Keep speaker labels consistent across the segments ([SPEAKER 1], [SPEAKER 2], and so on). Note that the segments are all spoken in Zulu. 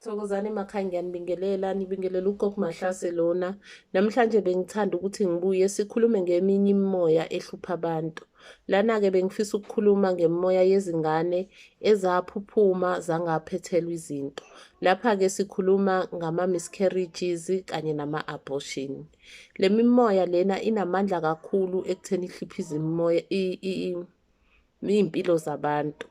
[SPEAKER 1] Thokozani emakhaya ngiyanibingelela nibingelela uGog Mahlase lona namhlanje bengithanda ukuthi ngibuye sikhulume ngeminye imimoya ehlupha abantu lana-ke bengifisa ukukhuluma ngemimoya yezingane ezaphuphuma zangaphethelwa izinto lapha-ke sikhuluma ngama-miscarriages kanye nama-abortion le mimoya lena inamandla kakhulu ekutheni ihluphe izimimoya iy'mpilo zabantu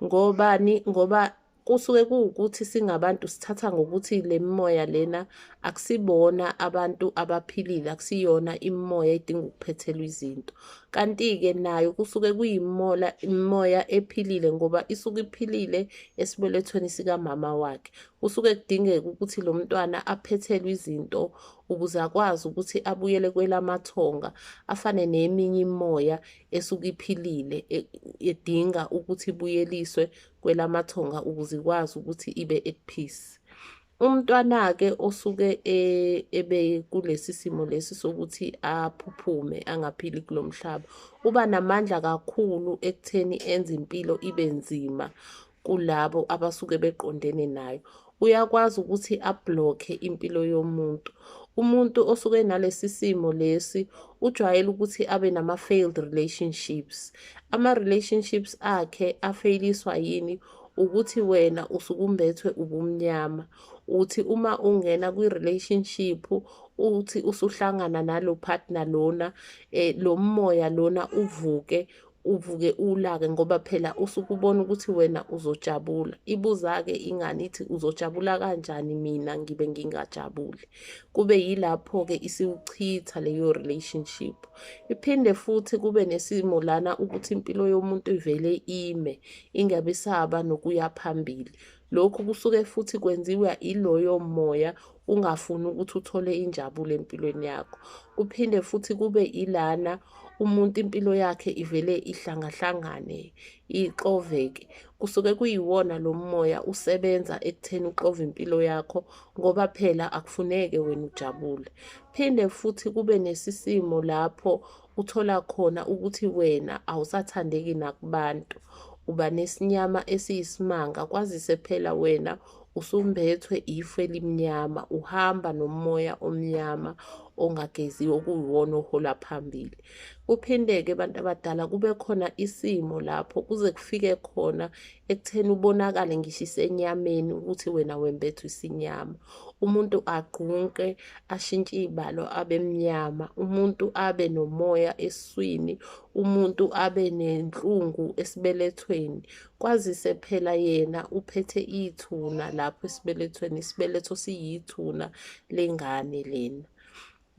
[SPEAKER 1] ngobani ngoba kusuke kuwukuthi singabantu sithatha ngokuthi le mimoya lena akusibona abantu abaphilile akusiyona imimoya edinga ukuphethelwa izinto kanti-ke nayo kusuke kuyimola imimoya ephilile ngoba isuke iphilile esibelethweni sikamama wakhe kusuke kudingeka ukuthi lo mntwana aphethelwe izinto ukuze akwazi ukuthi abuyele kwelamathonga afane neminye imimoya esuke iphilile e, edinga ukuthi ibuyeliswe kwelamathonga ukuze ikwazi ukuthi ibe at peace umntwana-ke osuke e, ebe kulesi simo lesi sokuthi aphuphume angaphili kulo mhlaba uba namandla kakhulu ekutheni enze impilo ibe nzima kulabo abasuke beqondene nayo uyakwazi ukuthi ablokhe impilo yomuntu. Umuntu osuke nalesi simo lesi ujwayele ukuthi abe nama-failed relationships. Ama-relationships akhe afeyiliswa yini? Ukuthi wena usukumbethwe ubumnyama. Uthi uma ungena kwi-relationship uthi usuhlangana nalo partner lona, eh, lo moya lona uvuke uvuke ulake ngoba phela usuke ubona ukuthi wena uzojabula ibuza-ke ingane ithi uzojabula kanjani mina ngibe ngingajabuli kube yilapho-ke isiwuchitha leyo relationship iphinde futhi kube nesimo lana ukuthi impilo yomuntu ivele ime ingabe saba nokuya phambili Lokhu kusuke futhi kwenziwa iloyo moya ungafuni ukuthi uthole injabulo empilweni yakho. Kuphinde futhi kube ilana umuntu impilo yakhe ivele ihlangahlangane, ixoveke. Kusuke kuyiwona lo moya usebenza ekutheni uxove impilo yakho ngoba phela akufuneke wena ujabule. Phinde futhi kube nesisimo lapho uthola khona ukuthi wena awusathandeki nakubantu uba nesinyama esiyisimanga kwazise phela wena usumbethwe ifu elimnyama uhamba nomoya omnyama ongageziwe okuyiwona ohola phambili kuphinde-ke abantu abadala kube khona isimo lapho kuze kufike khona ekutheni ubonakale ngisho isenyameni ukuthi wena wembethwe isinyama umuntu agqunqe ashintshe iy'balo abe mnyama umuntu abe nomoya eswini umuntu abe nenhlungu esibelethweni kwazise phela yena uphethe ithuna lapho esibelethweni isibeletho siyithuna lengane lena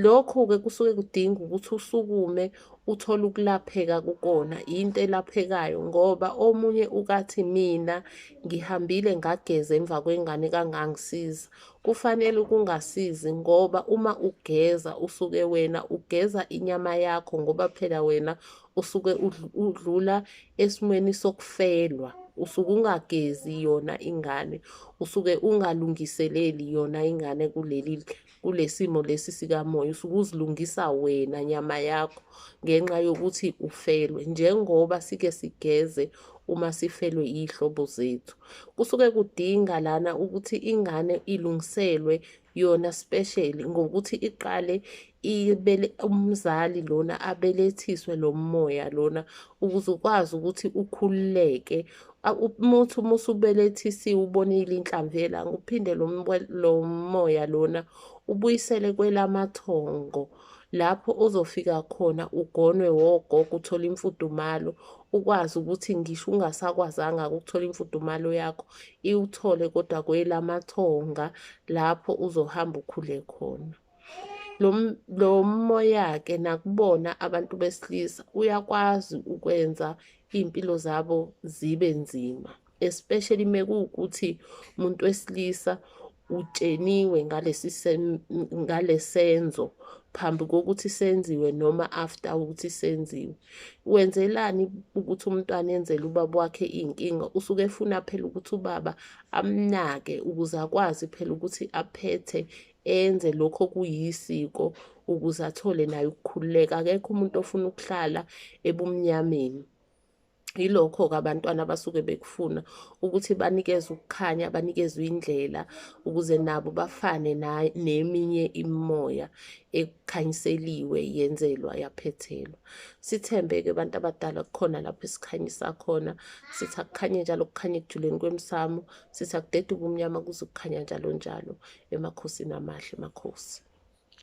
[SPEAKER 1] Lokhu-ke kusuke kudinga ukuthi usukume uthole ukulapheka kukona, yinto elaphekayo ngoba omunye ukathi mina ngihambile ngageza emva kwengane kangangisiza. Kufanele ukungasizi ngoba uma ugeza usuke wena ugeza inyama yakho ngoba phela wena usuke udlula esimweni sokufelwa. Usuke ungagezi yona ingane, usuke ungalungiseleli yona ingane kuleli kulesimo lesi sikamoya usuke uzilungisa wena nyama yakho ngenxa yokuthi ufelwe njengoba sike sigeze uma sifelwe yihlobo zethu kusuke kudinga lana ukuthi ingane ilungiselwe yona special ngokuthi iqale ibele umzali lona abelethiswe lo moya lona ukuze ukwazi ukuthi ukhululeke umuthi uma usubelethisiwe ubonile inhlamvu yelanga uphinde lo moya lona ubuyisele kwelamathongo lapho ozofika khona ugonwe wogogo uthole imfudumalo ukwazi ukuthi ngisho ungasakwazanga ukuthola imfudumalo yakho iwuthole kodwa kwelamathonga lapho uzohamba ukhule khona lo moya-ke nakubona abantu besilisa uyakwazi ukwenza iy'mpilo zabo zibe nzima especially mekuwukuthi umuntu wesilisa utsheniwe ngalesi ngalesenzo phambi kokuthi senziwe noma after ukuthi senziwe wenzelani ukuthi umntwana enzele ubaba wakhe iy'nkinga usuke efuna phela ukuthi ubaba amnake ukuze akwazi phela ukuthi aphethe enze lokho kuyisiko ukuze athole naye ukukhululeka akekho umuntu ofuna ukuhlala ebumnyameni yilokho-ke abantwana abasuke bekufuna ukuthi banikeze ukukhanya banikezwe indlela ukuze nabo bafane neminye imimoya ekukhanyiseliwe yenzelwa yaphethelwa sithembe-ke abantu abadala kukhona lapho esikhanyisa khona sithi akukhanye njalo kukhanye ekujuleni kwemsamo sithi akudeduke umnyama kuze kukhanya njalo njalo emakhosini amahle makhosi